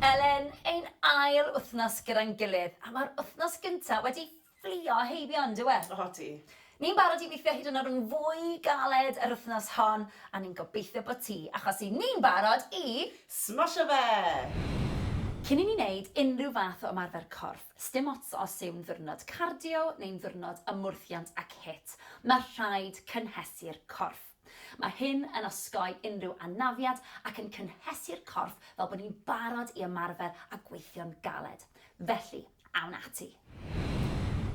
Elen, ein ail wythnos gyda'n gilydd, a mae'r wythnos gyntaf wedi fflio heibio, yn dyw e? Odi. Ni'n barod i weithio hyd yn oed yn fwy galed yr wythnos hon, a ni'n gobeithio bod ti, achos i ni'n barod i... Smosio fe! Cyn i ni wneud unrhyw fath o ymarfer corff, sdim ots os yw'n ddiwrnod cardio neu'n ddiwrnod ymwrthiant ac hit, mae rhaid cynhesu'r corff. Mae hyn yn osgoi unrhyw anafiad ac yn cynhesu'r corff fel bod ni'n barod i ymarfer a gweithio'n galed. Felly, awn ati!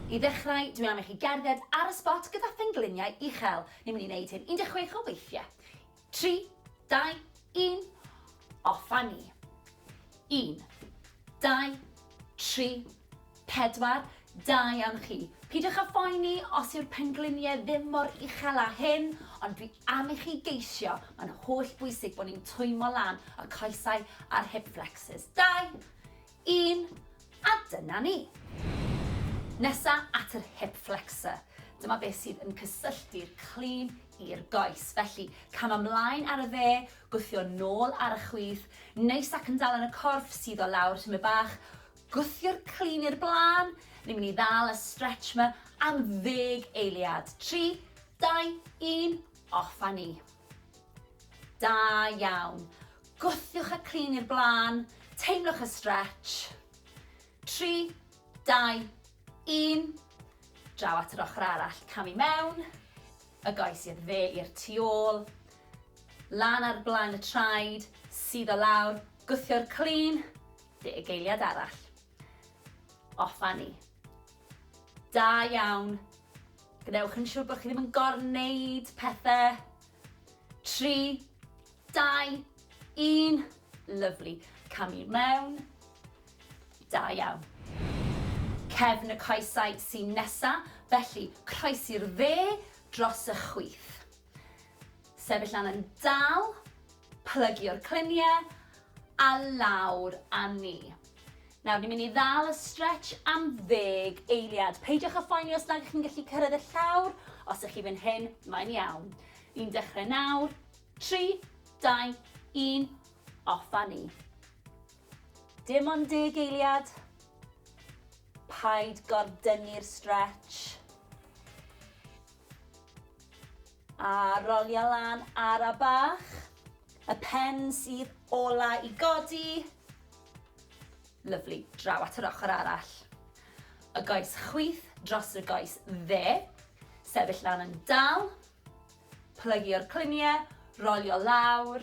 I ddechrau, dwi am i chi gerdded ar y sbot gyda phengliniau uchel. Ni'n mynd i wneud hyn 16 o weithiau. Tri, dau, un, off a ni! Un, dau, tri, Pedwar, Da iawn chi. Peidiwch â phoeni os yw'r pengliniau ddim mor uchel â hyn, ond dwi am i chi geisio, mae'n holl bwysig bod ni'n twymo lan y coesau a'r hip flexors. Dau, un, a dyna ni. Nesa at yr hip flexor. Dyma beth sydd yn cysylltu'r clean i'r goes. Felly, cam ymlaen ar y dde, gwthio nôl ar y chwith, neis ac yn dal yn y corff, suddo lawr tymed bach, Gwthio'r clun i'r blaen, ni'n mynd i ddal y stretch ma am ddeg eiliad. Tri, dau, un, off a ni. Da iawn. Gwthiwch y clun i'r blaen, teimlwch y stretch. Tri, dau, un. Draw at yr ochr arall, cam i mewn, y goes i'r dde i'r tu ôl, lan ar blaen y traed, sydd o lawr, gwthio'r clun, Fugeiliad arall. Offa ni. Da iawn. Gwnewch yn siŵr bod chi ddim yn gorneud pethau. Tri, dau, un. Lyflu. Cam i mewn. Da iawn. Cefn y coesau sy'n nesa, felly croesi'r dde dros y chwith. Sefyll lan yn dal, plygio'r cluniau a lawr â ni. Nawr, ni'n mynd i ddal y stretch am ddeg eiliad. Peidiwch â phoeni os nad ydych chi'n gallu cyrraedd y llawr, os ydych chi fan hyn, mae'n iawn. Ni'n dechrau nawr, 3, 2, 1, off â ni. Dim ond deg eiliad. Paid gordynnu'r stretch. A rolia lan ara bach. Y pen sydd ola i godi. Lyfli, draw at yr ochr arall. Y goes chwith dros y goes dde. Sefyll lan yn dal. Plygio'r cluniau, rolio lawr.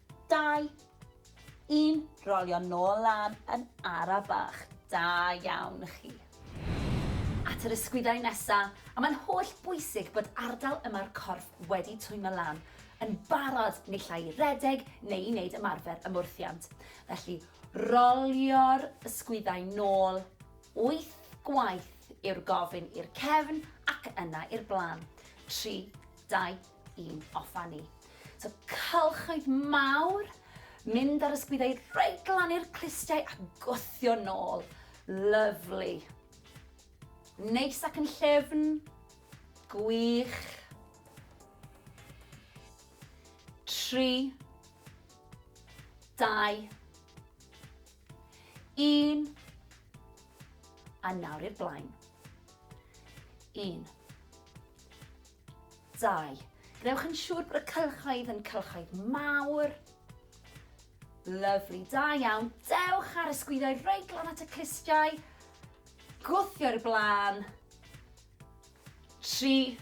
Dau. Un. Rolio nôl lan yn ara bach. Da iawn chi. At yr ysgwyddau nesa, a mae'n holl bwysig bod ardal yma'r corff wedi twymo lan, yn barod naill ai i redeg neu i wneud ymarfer ymwrthiant. Felly, rolio'r ysgwyddau nôl, wyth gwaith yw'r gofyn i'r cefn ac yna i'r blaen. Tri, dau, i'n offa ni. So cylchoedd mawr, mynd ar ysgwyddau reit glan i'r clustiau a gwthio nôl. Lyflu. Neis ac yn llefn. Gwych. Tri. Dau. Un. A nawr i'r blaen. Un. 2. Gwnewch yn siŵr bod y cylchoedd yn cylchoedd mawr. Lyfli, da iawn. Dewch ar y sgwyddoedd reit glan at y clustiau. Gwthio i'r blaen. 3,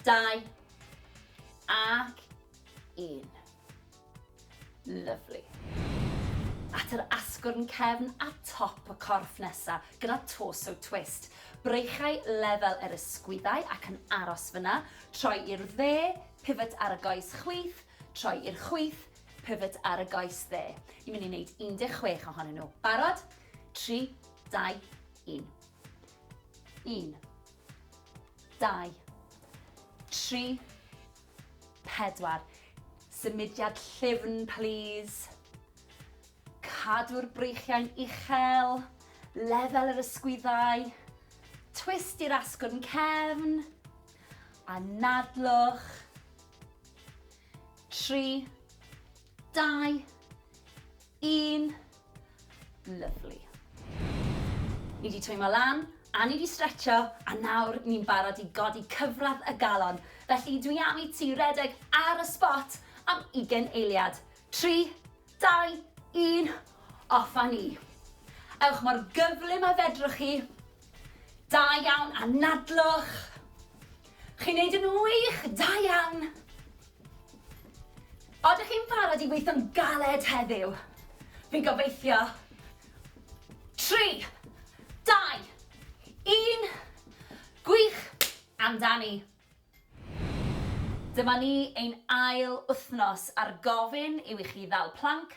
2, ac 1. Lyfli. At yr asgwrn cefn a top y corff nesa, gyda torso twist. Breichau lefel yr ysgwyddau ac yn aros fyna, troi i'r dde, pivot ar y goes chwith, troi i'r chwith, pivot ar y goes dde. Ni'n mynd i wneud 16 ohonyn nhw. Barod? 3, 2, 1. 1, 2, 3, 4. Symudiad llyfn plîs. Cadw'r breichiau'n uchel, lefel yr ysgwyddau, twist i'r asgwrn cefn, anadlwch. 3. Dau. Un. Lovely. Ni wedi twymo lan, a ni wedi stretcho, a nawr ni'n barod i godi cyfradd y galon. Felly dwi am i ti redeg ar y spot am ugen eiliad. Tri, dau, un, off a ni. Ewch mor gyflym a fedrwch chi. Da iawn, anadlwch. Chi'n neud yn wych, da iawn. Oeddech chi'n barod i weithio'n galed heddiw? Fi'n gobeithio. Tri, dau, un, gwych amdani! Dyma ni, ein ail wythnos ar gofyn yw i chi ddal planc,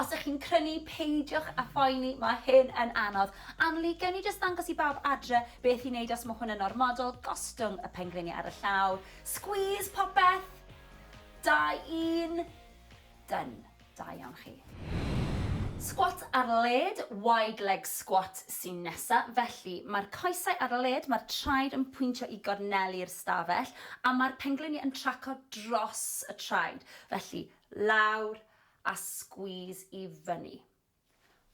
Os ych chi'n crynu, peidiwch â phoeni, mae hyn yn anodd. Anneli, gewn ni jyst ddangos i bawb adre beth i wneud os mae hwn yn ormodol, gostwng y pengliniau ar y llaw, squeeze popeth! Da, un! Done. Da iawn chi. Sgwat ar led, wide leg squat, sy'n nesa. Felly, mae'r coesau ar led, mae'r traed yn pwyntio i gorneli'r stafell, a mae'r pengliniau yn traco dros y traed. Felly, lawr, a squeeze i fyny.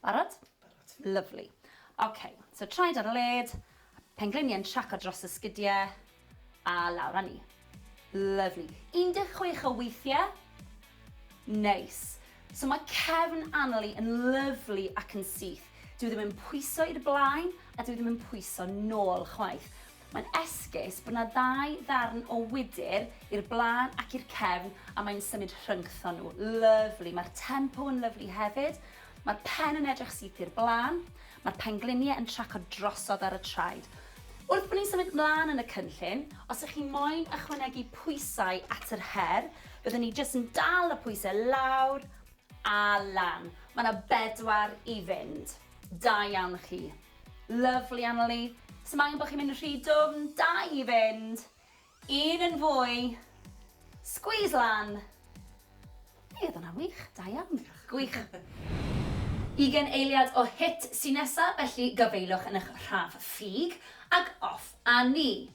Barod? Barod. Lyfli. Ok, so traed ar y led, pengliniau yn traco dros y sgidiau, a lawr â ni. Lyfli. 16 o weithiau. Neis. So mae cefn Annalie yn lyfli ac yn syth. Dwi ddim yn pwyso i'r blaen a dwi ddim yn pwyso nôl chwaith. Mae'n esgus bod 'na ddau ddarn o wydr i'r blaen ac i'r cefn a mae'n symud rhyngthon nhw. Lyfli. Mae'r tempo yn lyfli hefyd. Mae'r pen yn edrych syth i'r blaen. Mae'r pengliniau yn tracio drosodd ar y traed. Wrth bod ni'n symud 'mlaen yn y cynllun, os ych chi moyn ychwanegu pwysau at yr her, byddwn ni jyst yn dal y pwysau lawr a lan. Mae 'na bedwar i fynd. Da iawn chi. Lyfli Annalee. Sdim angen bo' chi'n mynd rhy dwfn, da i fynd. Un yn fwy. Squeeze lan. Be' odd wnna'n wych, da iawn. Gwych. Ugen eiliad o hit sy nesa, felly gafaelwch yn ych rhaf ffug, ag off a ni.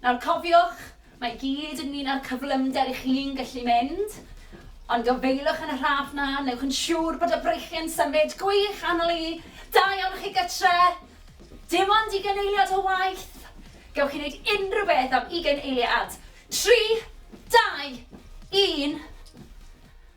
Nawr cofiwch, mae i gyd ynglŷn â'r cyflymder i chi'n gallu mynd, ond o feilwch yn y rhaff 'na, newch yn siŵr bod y breichiau'n symud gwych anol i, da iawn chi gytre! Dim ond ugain eiliad o waith! Gewch chi wneud unrhyw beth am ugain eiliad! Tri, dau, un.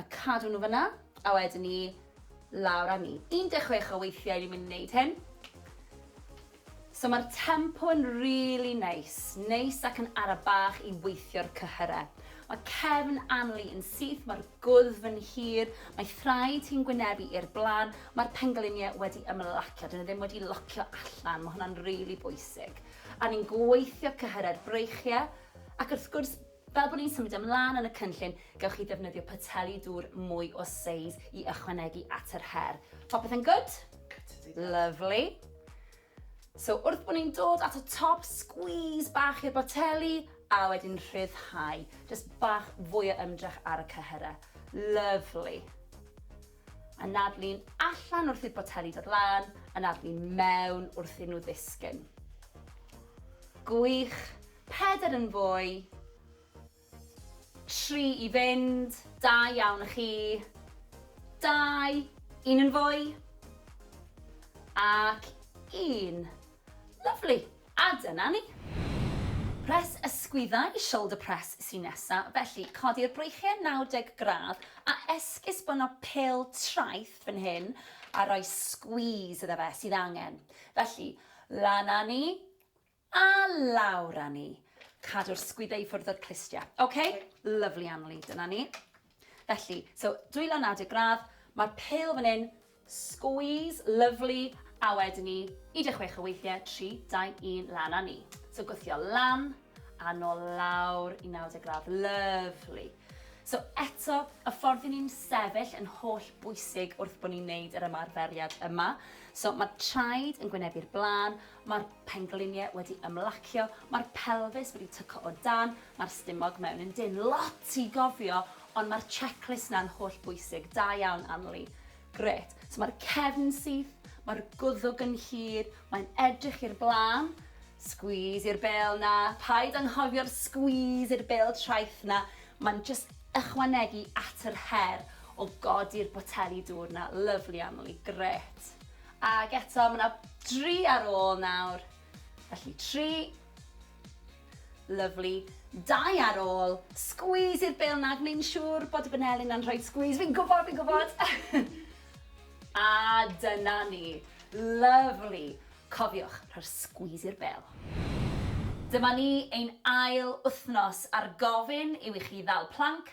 A cadw nhw fan'na, a wedyn 'ny lawr â ni. 16 o weithiau ni'n mynd i wneud hyn. So mae'r tempo yn rili neis, neis ac yn ara bach i weithio'r cyhyre. Mae cefn Anli yn syth, mae'r gwddf yn hir, mae thraed hi'n gwynebu i'r blaen, mae'r pengliniau wedi ymlacio, dyn nhw ddim wedi locio allan, mae hwnna'n rili bwysig. A ni'n gweithio cyhyre'r breichiau, ac wrth gwrs Fel bod ni'n symud ymlaen yn y cynllun, gewch chi ddefnyddio poteli dŵr mwy o seis i ychwanegu at yr her. Popeth yn gwd? Lyfli. So wrth bod ni'n dod at y top, sgwîs bach i'r boteli, a wedyn rhyddhau. Jyst bach fwy o ymdrech ar y cyhyrau. Lyfli. Anadlu'n allan wrth i'r boteli dod lan, anadlu'n mewn wrth iddyn nhw ddisgyn. Gwych. Pedair yn fwy. Tri i fynd. Da iawn i chi. Dau. Un yn fwy. Ac un. Lyfli. A dyna ni. Press ysgwyddau i shoulder press sy'n nesa, felly codi'r breichiau 90 gradd a esgusbono pêl traeth fan hyn a rhoi squeeze iddo fe sydd angen. Felly, lan â ni a lawr â ni. Cadw'r sgwyddau i ffwrdd o'r clustiau. Ok, lovely Anneli, dyna ni. Felly, so dwylo naw deg gradd, mae'r pêl fan hyn, squeeze, lovely, a wedyn ni, 16 o weithiau, 3, 2, 1, lan a ni. So gwthio lan, a nôl lawr i 90 gradd, lovely. So eto, y ffordd i ni'n sefyll yn holl bwysig wrth bod ni'n neud yr ymarferiad yma. So mae traed yn gwynebu'r blaen, Mae'r pengliniau wedi ymlacio, mae'r pelfis wedi tyco o dan, mae'r stumog mewn yn dynn. Lot i gofio, ond mae'r checklist 'na'n holl bwysig. Da iawn, Anli. Grêt. So mae'r cefn syth, mae'r gwddwg yn hir, mae'n edrych i'r blaen. Squeeze i'r bêl 'na. Paid anghofio'r squeeze i'r bêl traeth 'na. Mae'n jyst ychwanegu at yr her o godi'r boteli dŵr 'na. Lyfli, Anli. Grêt. Ac eto, mae 'na dri ar ôl nawr. Felly, tri. Lyfli. Dau ar ôl. Sgwîs i'r bêl 'na, gwneud yn siŵr bod y baneli 'na'n rhoi sgwîs. Fi'n gwybod, fi'n gwybod! A dyna ni. Lyfli. Cofiwch, rhoi'r sgwîs i'r bêl. Dyma ni, ein ail wythnos a'r gofyn yw i chi ddal planc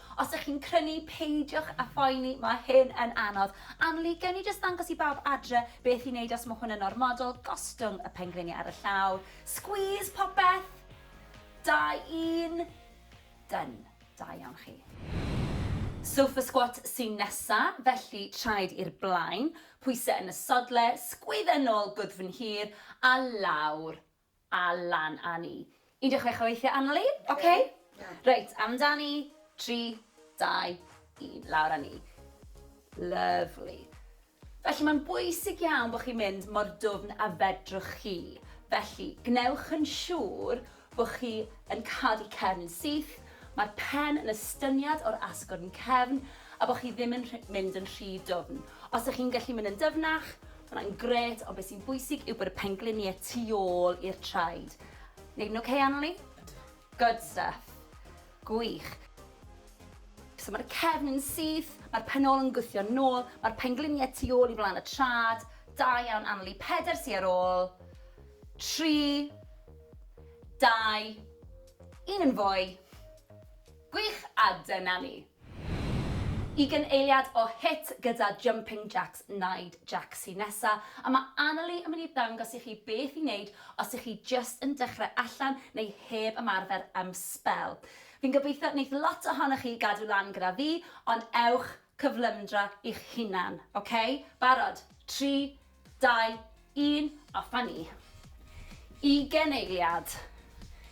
Os ych chi'n crynu, peidiwch â phoeni, mae hyn yn anodd. Anneli, gewn ni jyst ddangos i bawb adre beth i wneud os mae hwn yn ormodol, gostwng y pengliniau ar y llaw, squeeze popeth, da un, done, da iawn chi. Sofa squat sy'n nesa, felly traed i'r blaen, pwysau yn y sodle, sgwydda nôl gwddf yn hir a lawr, A lan a ni. 16 o weithiau aml i. Ok. Reit, amdani. 3, 2, 1. Lawr a ni. Lyfli. Felly mae'n bwysig iawn bod chi'n mynd mor dwfn a fedrwch chi. Felly, gwnewch yn siŵr bod chi yn cadw'r cefn yn syth, mae'r pen yn estyniad o'r asgwrn cefn a bod chi ddim yn mynd yn rhy dwfn. Os ydych chi'n gallu mynd yn dyfnach, Mae hwnna'n gret, ond beth sy'n bwysig yw bod y pengliniau tu ôl i'r traed. Neud yn okay, Anneli? Good stuff. Gwych. So mae'r cefn yn syth, mae'r penol yn gwthio nôl, mae'r pengliniau tu ôl i flaen y trad. Da iawn, Anneli. Peder sy ar ôl. Tri. Dau. Un yn fwy. Gwych, a dyna ni. Ugain eiliad o hit gyda Jumping Jacks Naid Jac sy nesa, a mae Annalee yn mynd i ddangos i chi beth i wneud os ych chi jyst yn dechrau allan neu heb ymarfer am sbel. Fi'n gobeithio wneith lot ohonoch chi gadw lan gyda fi, ond ewch cyflymdra i'ch hunan, ok? Barod? Tri, Dau, un, a fynnu. Ugen eiliad.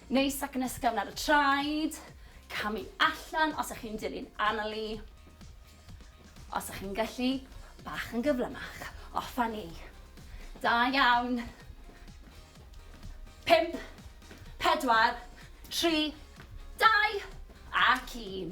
Neis ac yn ysgafn ar y traed. Camu allan os ych chi'n dilyn Annalee. Os ych chi'n gallu, bach yn gyflymach. O, fynnu. Da iawn. Pimp, pedwar, tri, dau, ac un.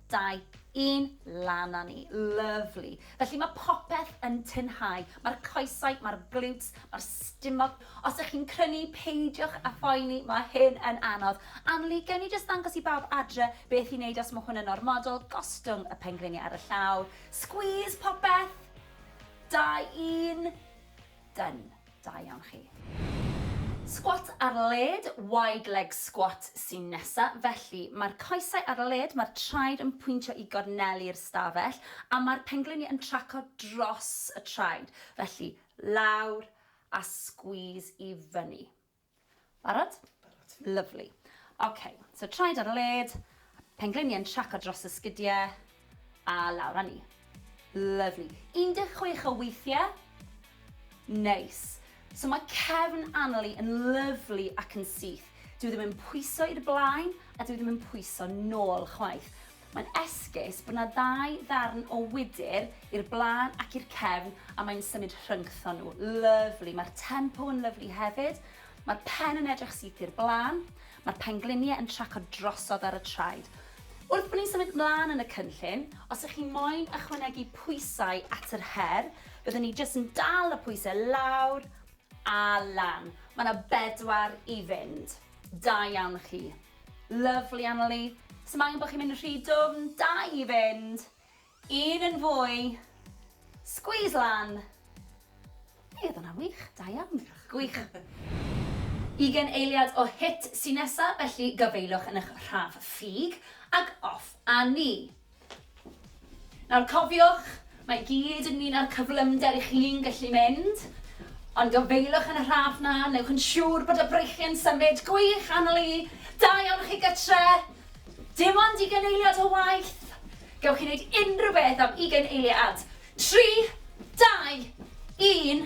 dau, un, lan a ni. Lyfli. Felly mae popeth yn tynhau. Mae'r coesau, mae'r glutes, mae'r stumog. Os ych chi'n crynu, peidiwch a phoeni, mae hyn yn anodd. Anneli, gewn ni jyst ddangos i bawb adre beth i wneud os mae hwn yn ormodol, gostwng y pengliniau ar y llawr, squeeze popeth, dau, un, Done. Da iawn chi. Sgwat ar led, wide leg squat, sy'n nesa. Felly, mae'r coesau ar led, mae'r traed yn pwyntio i gornelu'r stafell, a mae'r pengliniau yn tracio dros y traed. Felly, lawr a squeeze i fyny. Barod? Barod. Lyfli. Ok, so traed ar y led, pengliniau yn traco dros y sgidiau, a lawr â ni. Lyfli. 16 o weithiau. Neis. So mae cefn Annalee yn lyfli ac yn syth. Dyw e ddim yn pwyso i'r blaen a dyw e ddim yn pwyso nôl chwaith. Mae'n esgus bod 'na ddau ddarn o wydr i'r blaen ac i'r cefn a mae'n symud rhyngthon nhw. Lyfli. Mae'r tempo yn lyfli hefyd. Mae'r pen yn edrych syth i'r blaen. Mae'r pengliniau yn tracio drosodd ar y traed. Wrth bod ni'n symud 'mlaen yn y cynllun, os ych chi moyn ychwanegu pwysau at yr her, byddwn ni jyst yn dal y pwysau lawr a lan. Mae 'na bedwar i fynd. Da iawn chi. Lyfli Annalee. Sdim angen bo chi'n mynd rhy dwfn, da i fynd. Un yn fwy. Squeeze lan. Ie, odd hwnna'n wych, da iawn. Gwych. Ugen eiliad o hit sy nesa, felly gafaelwch yn ych rhaf ffug, ag off a ni. Nawr cofiwch, mae i gyd ynglŷn â'r cyflymder i chi'n gallu mynd, ond gofeilwch yn y rhaff 'na, newch yn siŵr bod y breichiau'n symud gwych annwyl i dau ohonoch chi gytre! Dim ond ugain eiliad o waith! Gewch chi wneud unrhyw beth am ugain eiliad! Tri, dau, un.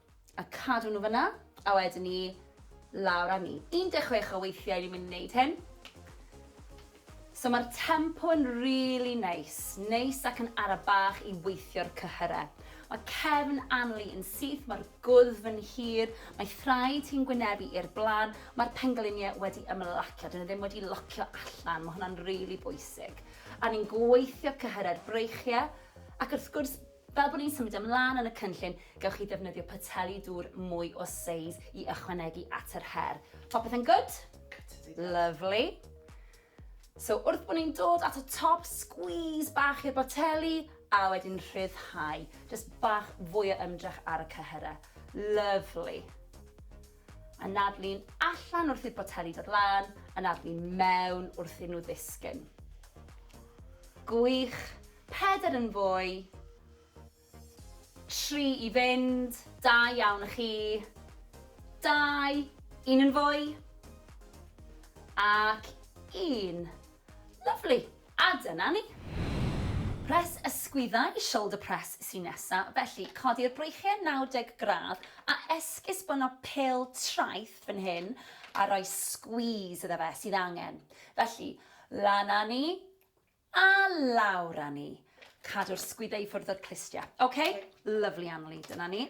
A cadw nhw fan'na, a wedyn 'ny lawr â ni. 16 o weithiau ni'n mynd i wneud hyn. So mae'r tempo yn rili neis, neis ac yn ara bach i weithio'r cyhyre. Mae cefn Anli yn syth, mae'r gwddf yn hir, mae thraed hi'n gwynebu i'r blaen, mae'r pengliniau wedi ymlacio, dyn nhw ddim wedi locio allan, mae hwnna'n rili bwysig. A ni'n gweithio cyhyre'r breichiau, ac wrth gwrs Fel bod ni'n symud ymlaen yn y cynllun, gewch chi ddefnyddio poteli dŵr mwy o seis i ychwanegu at yr her. Popeth yn gwd? Lyfli. So wrth bod ni'n dod at y top, sgwîs bach i'r boteli, a wedyn rhyddhau. Jyst bach fwy o ymdrech ar y cyhyrau. Lyfli. Anadlu'n allan wrth i'r boteli dod lan, anadlu'n mewn wrth iddyn nhw ddisgyn. Gwych. Pedair yn fwy. Tri i fynd. Da iawn i chi. Dau. Un yn fwy. Ac un. Lyfli. A dyna ni. Press ysgwyddau i shoulder press sy'n nesa, felly codi'r breichiau 90 gradd a esgusbono pêl traeth fan hyn a rhoi squeeze iddo fe sydd angen. Felly, lan â ni a lawr â ni. Cadw'r sgwyddau i ffwrdd o'r clustiau. Ok, lovely Anneli, dyna ni.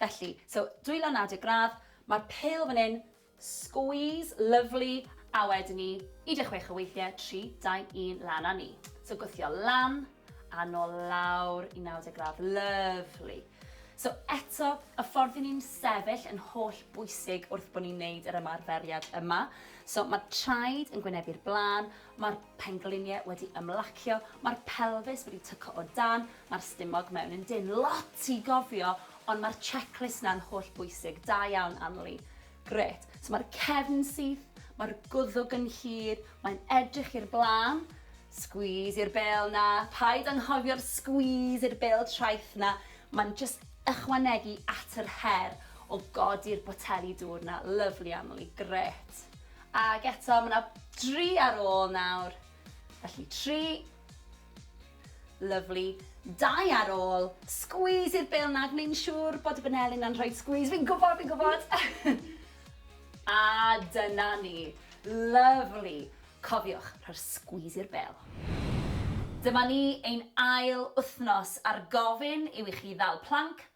Felly, so dwylo naw deg gradd, mae'r pêl fan hyn, squeeze, lovely, a wedyn ni, 16 o weithiau, 3, 2, 1, lan a ni. So gwthio lan, a nôl lawr i 90 gradd, lovely. So eto, y ffordd i ni'n sefyll yn holl bwysig wrth bod ni'n neud yr ymarferiad yma. So mae traed yn gwynebu'r blaen, Mae'r pengliniau wedi ymlacio, mae'r pelfis wedi tyco o dan, mae'r stumog mewn yn dynn. Lot i gofio, ond mae'r checklist 'na'n holl bwysig. Da iawn, Anli. Grêt. So mae'r cefn syth, mae'r gwddwg yn hir, mae'n edrych i'r blaen. Squeeze i'r bêl 'na. Paid anghofio'r squeeze i'r bêl traeth 'na. Mae'n jyst ychwanegu at yr her o godi'r boteli dŵr 'na. Lyfli, Anli. Grêt. Ac eto, mae 'na dri ar ôl nawr. Felly, tri. Lyfli. Dau ar ôl. Sgwîs i'r bêl 'na, gwneud yn siŵr bod y baneli 'na'n rhoi sgwîs. Fi'n gwybod, fi'n gwybod! A dyna ni. Lyfli. Cofiwch, rhoi'r sgwîs i'r bêl. Dyma ni, ein ail wythnos a'r gofyn yw i chi ddal planc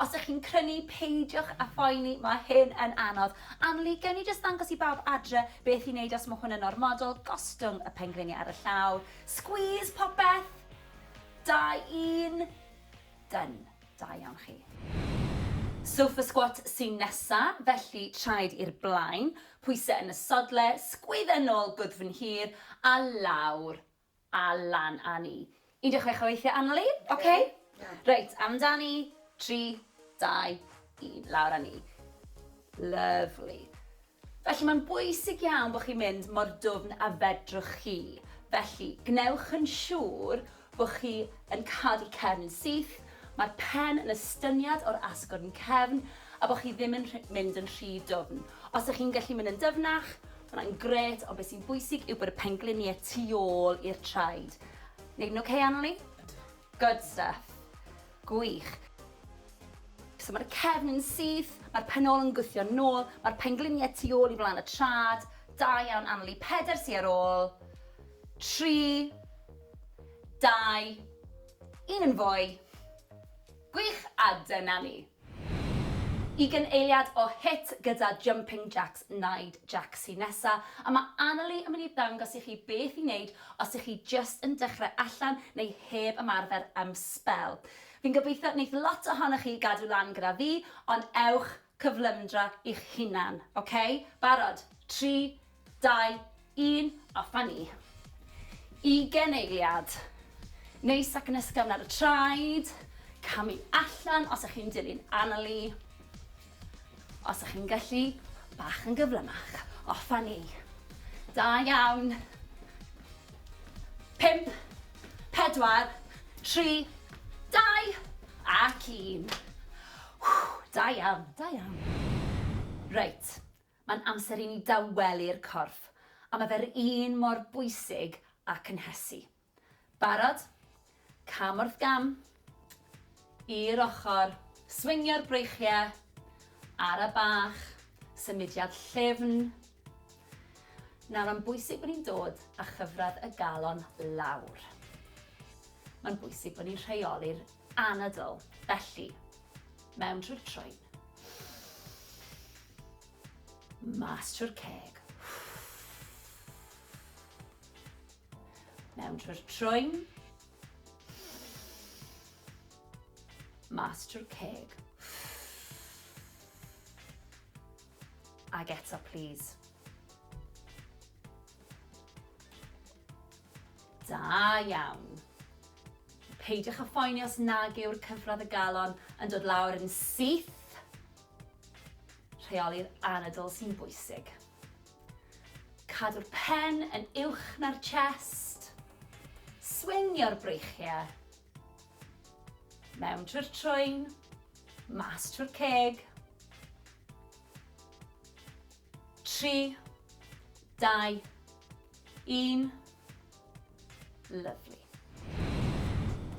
Os ych chi'n crynu, peidiwch â phoeni, mae hyn yn anodd. Anneli, gewn ni jyst ddangos i bawb adre beth i wneud os mae hwn yn ormodol, gostwng y pengliniau ar y llaw, squeeze popeth, da un, done, da iawn chi. Sofa squat sy'n nesa, felly traed i'r blaen, pwysau yn y sodle, sgwydda nôl gwddf yn hir a lawr, A lan a ni. 16 o weithiau aml i. Ok. Reit, amdani. 3, 2, 1. Lawr a ni. Lyfli. Felly mae'n bwysig iawn bod chi'n mynd mor dwfn a fedrwch chi. Felly, gwnewch yn siŵr bod chi yn cadw'r cefn yn syth, mae'r pen yn estyniad o'r asgwrn cefn a bod chi ddim yn mynd yn rhy dwfn. Os ydych chi'n gallu mynd yn dyfnach, Ma' hwnna'n grêt, ond be' sy'n bwysig yw bod y penglinie tu ôl i'r traed. Neud yn ocê Annalee? Good stuff. Gwych. So ma'r cefn yn syth, ma'r pen ôl yn gwthio nôl, ma'r penglinie tu ôl i flan y trad. Da iawn Annalee. Peder sy ar ôl. Tri. Dau. Un yn fwy. Gwych, a dyna ni. Ugain eiliad o hit gyda Jumping Jacks Naid Jac sy nesa, a mae Annalee yn mynd i ddangos i chi beth i wneud os ych chi jyst yn dechrau allan neu heb ymarfer am sbel. Fi'n gobeithio wneith lot ohonoch chi gadw lan gyda fi, ond ewch cyflymdra i'ch hunan, ok? Barod? Tri, Dau, un, a fyny. Ugen eiliad. Neis ac yn ysgafn ar y traed. Camu allan os ych chi'n dilyn Annalee. Os ych chi'n gallu, bach yn gyflymach. O, ffynnu. Da iawn. Pimp, pedwar, tri, dau, ac un. Da iawn, da iawn. Reit, Mae'n amser i ni dawelu'r corff, a mae fe'r un mor bwysig â cynhesu. Barod? Cam wrth gam. I'r ochr. Swingio'r breichiau. Ara bach. Symudiad llyfn. Nawr, mae'n bwysig bod ni'n dod â chyfradd y galon lawr. Mae'n bwysig bod ni'n rheoli'r anadl, felly, mewn trwy'r troen. Mas trwy'r ceg. Mewn trwy'r troen. Mas trwy'r ceg. Ag eto, please. Da iawn. Peidiwch â phoeni os nag yw'r cyfradd y galon yn dod lawr yn syth. Rheoli'r anadl sy'n bwysig. Cadw'r pen yn uwch na'r chest. Swingio'r breichiau. Mewn trwy'r trwyn, mas trwy'r ceg. 3, 2, 1. Lyfli.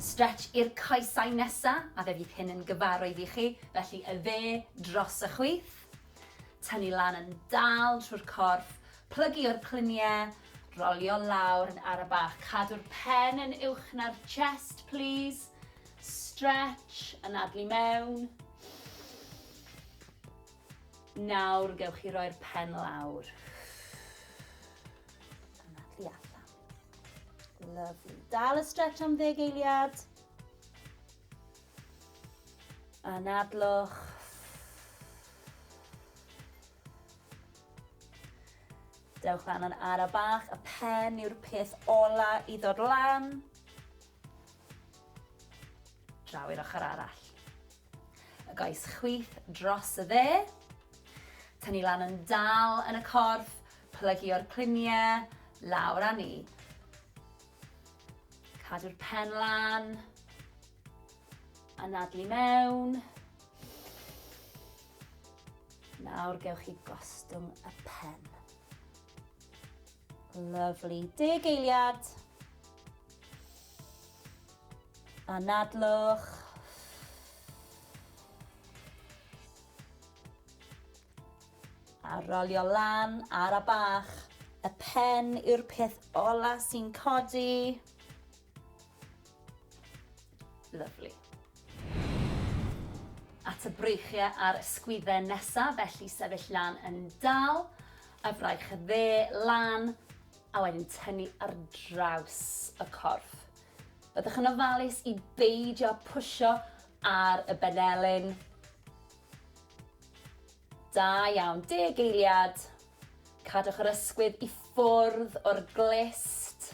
Stretch i'r coesau nesa, a fe fydd hyn yn gyfarwydd i chi, felly y dde dros y chwith. Tynnu lan yn dal trwy'r corff, plygu o'r clunie, rolio lawr yn ara bach. Cadw'r pen yn uwch na'r chest, plîs. Stretch, anadlu mewn. Nawr gewch chi roi'r pen lawr. Yna, tu allan. Lovely. Dal y stretch am ddeg eiliad. Anadlwch. Dewch lan yn ara bach, y pen yw'r peth ola i ddod lan. Draw i'r ochr arall. Y goes chwith dros y dde. Tynnu lan yn dal yn y corff, plygio'r cliniau, lawr â ni. Cadw'r pen lan. Anadlu mewn. Nawr gewch chi gostwng y pen. Lyfli. Deg eiliad. Anadlwch. A rolio lan ar a bach. Y pen yw'r peth ola sy'n codi. Lyfli. At y breichiau a'r ysgwydden nesaf, felly sefyll lan yn dal, y fraich dde lan, a wedyn tynnu ar draws y corff. Byddwch yn ofalus i beidio pwysio ar y benelin. Da iawn, deg eiliad. Cadwch yr ysgwydd i ffwrdd o'r glist.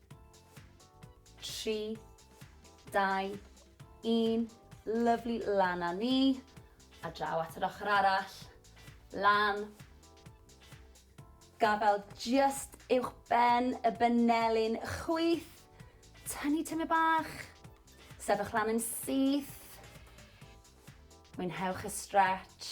3, 2, 1, lyflu lan a ni, a draw at yr ochr arall, lan, gafael just uwch ben y benelin, chwyth, tynnu tyme bach, sefych lan yn syth, mwynhewch y stretch,